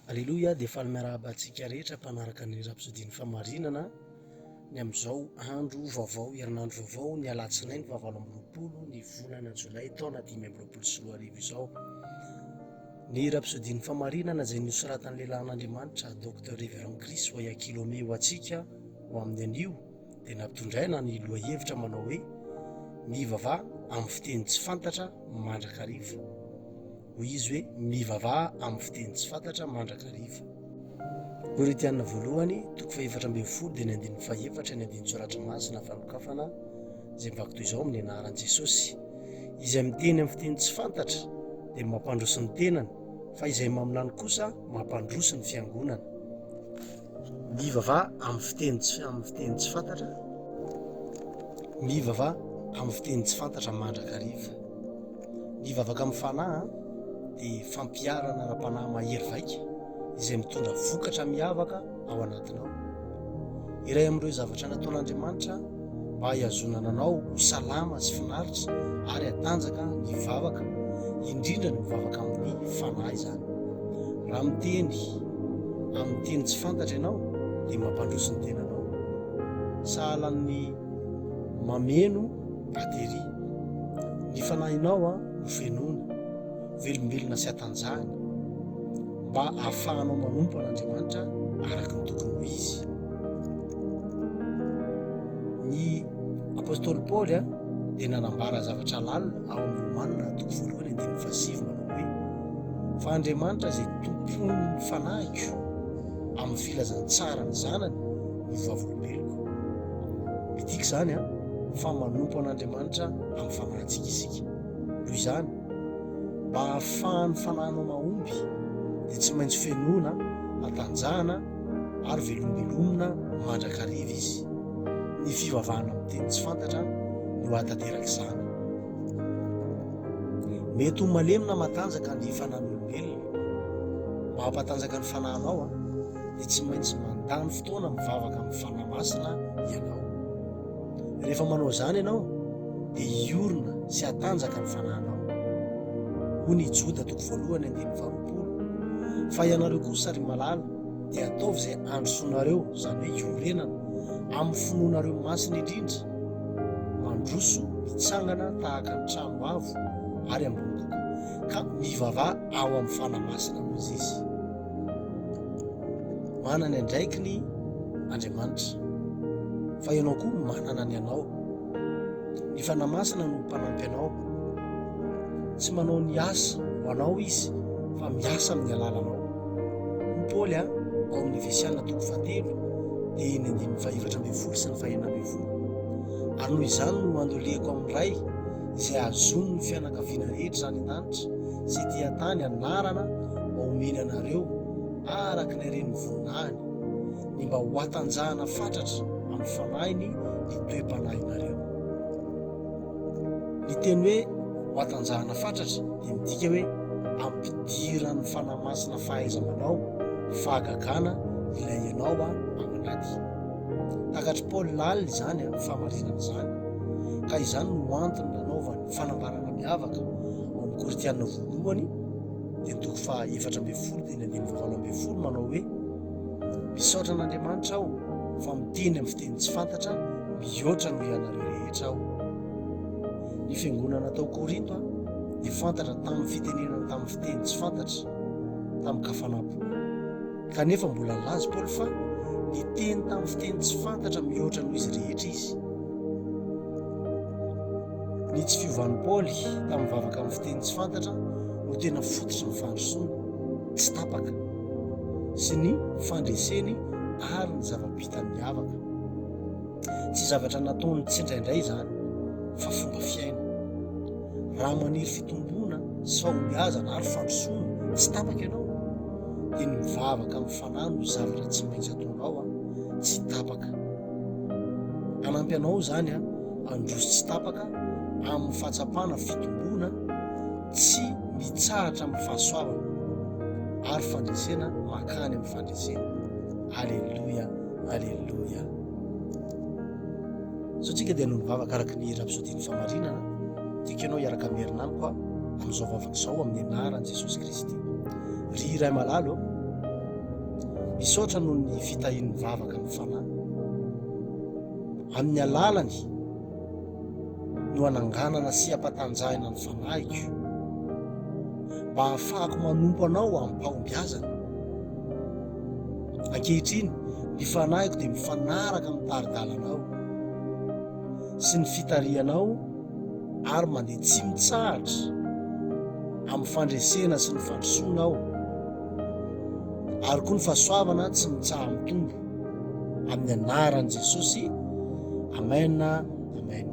Aleloia dia faly miarahaba antsika rehetra mpanaraka ny rapsodin'ny famarinana ny amin'izao andro vaovao herinandro vaovao ny alatsinainy fahavalo amby roapolo ny volana jolay taona dimy amby roapolo sy roa arivo izao ny rapsodin'ny famarinana izay nosoratan'ny lehilahin'Andriamanitra Docteur Reverend Chris Oyakhilome ho antsika ho amin'ny anio dia nampitondraina ny lohahevitra manao hoe Mivavaha amin'ny fiteny tsy fantatra mandrakariva. Hoy izy hoe mivavaha amin'ny fiteny tsy fantatra mandrakariva. Korintiana voalohany, toko fahefatra ambin'ny folo dia ny andininy fahefatra ny andininy tsoratra masina fanokafana izay mivaky toy izao amin'ny anaran'i Jesosy. Izay miteny amin'ny fiteny tsy fantatra dia mampandroso ny tenany fa izay maminany kosa mampandroso ny fiangonana. Mivavaha amin'ny fiteny tsy amin'ny fiteny tsy fantatra. Mivavaha amin'ny fiteny tsy fantatra mandrakariva. Ny vavaka amin'ny fanahy dia fampiharana ara-panahy mahery vaika izay mitondra vokatra miavaka ao anatinao. Iray amin'ireo zavatra nataon'Andriamanitra mba hahihazonana anao ho salama sy finaritra ary hatanjaka ny vavaka, indrindra ny mivavaka amin'ny Fanahy izany. Raha miteny amin'ny teny tsy fantatra ianao dia mampandroso ny tenanao. Sahala amin'ny mameno batterie. Ny fanahinao no fenoina. velombelona sy atanjahana mba hahafahanao manompo an'Andriamanitra araka ny tokony ho izy. Ny apôstôly Paoly a dia nanambara zavatra lalina ao amin'ny Romanina toko voalohany andininy fahasivy manao hoe fa Andriamanitra izay tompon'ny fanahiko amin'ny filazantsara ny zanany no vavolombeloko. Midika izany a fa manompo an'Andriamanitra amin'ny fanahintsika isika. Noho izany, Mba hahafahan'ny fananao mahomby dia tsy maintsy fenoina, atanjahana ary velomibelomina mandrakariva izy. Ny fivavahana amin'ny teny tsy fantatra no hahatanteraka izany. Mety ho malemy na matanjaka ny fanan'olombelona. Mba hampatanjaka ny fananao dia tsy maintsy mandany fotoana mivavaka amin'ny fanahy masina ianao. Rehefa manao izany ianao, dia hiorina sy hatanjaka ny fanahinao. Hoy ny Joda toko voalohany andininy faharoapolo, Fa ianareo kosa, ry malala, dia ataovy izay handrosoanareo, izany hoe iorenana, amin'ny finoanareo masina indrindra, mandroso mitsangana tahaka ny trano avo ary ambony kokoa, ka mivavaha ao amin'ny fanahy masina, Mozisy. Manana ny andraikiny Andriamanitra, fa ianao koa manana ny anao. Ny Fanahy Masina no mpanampy anao. Tsy manao ny asa ho anao izy, fa miasa amin'ny alalanao. Hoy Paoly ao amin'ny Efesiana toko fahatelo dia ny andininy fahaefatra ambin'ny folo sy ny fahenina ambin'ny folo. Ary noho izany no andolehako amin'ny Ray izay hahazoan'ny fianakaviana rehetra any an-danitra sy ety an-tany anarana mba homeny anareo araka ny haren'ny voninahiny, ny mba hohatanjahana fatratra amin'ny fanahiny ny toe-panahinareo. Ny teny hoe hohatanjahana fatratra dia midika hoe ampidiran'ny Fanahy Masina fahaiza-manao, fahagagana ilay ianao ao anaty. Takatr'i Paoly lalina izany amin'ny fahamarinana izany, ka izany no antony nanaovany fanambarana miavaka ao amin'ny Korintiana voalohany, dia ny toko faha efatra ambin'ny folo, teny andininy fahavalo ambin'ny folo, manao hoe, Misaotra an'Andriamanitra aho fa miteny amin'ny fiteny tsy fantatra mihoatra noho ianareo rehetra aho. Ny fiangonana tao Korinto dia fantatra tamin'ny fitenenana tamin'ny fiteny tsy fantatra tamin-kafanam-po. Kanefa mbola nilaza Paoly fa niteny tamin'ny fiteny tsy fantatra mihoatra noho izy rehetra izy. Ny tsy fiovan'i Paoly tamin'ny vavaka amin'ny fiteny tsy fantatra no tena fototry ny fandrosoany tsy tapaka sy ny fandreseny ary ny zava-bitany miavaka. Tsy zavatra nataony tsindraindray izany, fa fomba fiaina. raha maniry fitomboana sy fahombiazana ary fandrosoana tsy tapaka ianao dia ny mivavaka amin'ny fanahy no zavatra tsy maintsy ataonao an tsy tapaka hanampy anao izany an handroso tsy tapaka amin'ny fahatsapana fitomboana tsy mitsahatra amin'ny fahasoavana ary fandresena makany amin'ny fandresena aleloia aleloia Sao tsika dia hanao ny vavaka araka ny Rapsôdian'ny Famarinana, dia keo ianao hiaraka amin'ny herinaniko aho amin'izao vavaka izao amin'ny anaran'i Jesosy Kristy. Ry iray malalo, misaotra noho ny fitahian'ny vavaka amin'ny fanahy. Amin'ny alalany no ananganana sy ampatanjahina ny fanahiko mba hahafahako manompo anao amim-pahombiazana. Ankehitriny, ny fanahiko dia mifanaraka amin'ny tari-dalanao sy ny fitarihanao ary mandeha tsy mitsahatra amin'ny fandresena sy ny fandrosoana aho, ary koa ny fahasoavana tsy mitsaha-mitombo. Amin'ny anaran'i Jesosy, amena, amena.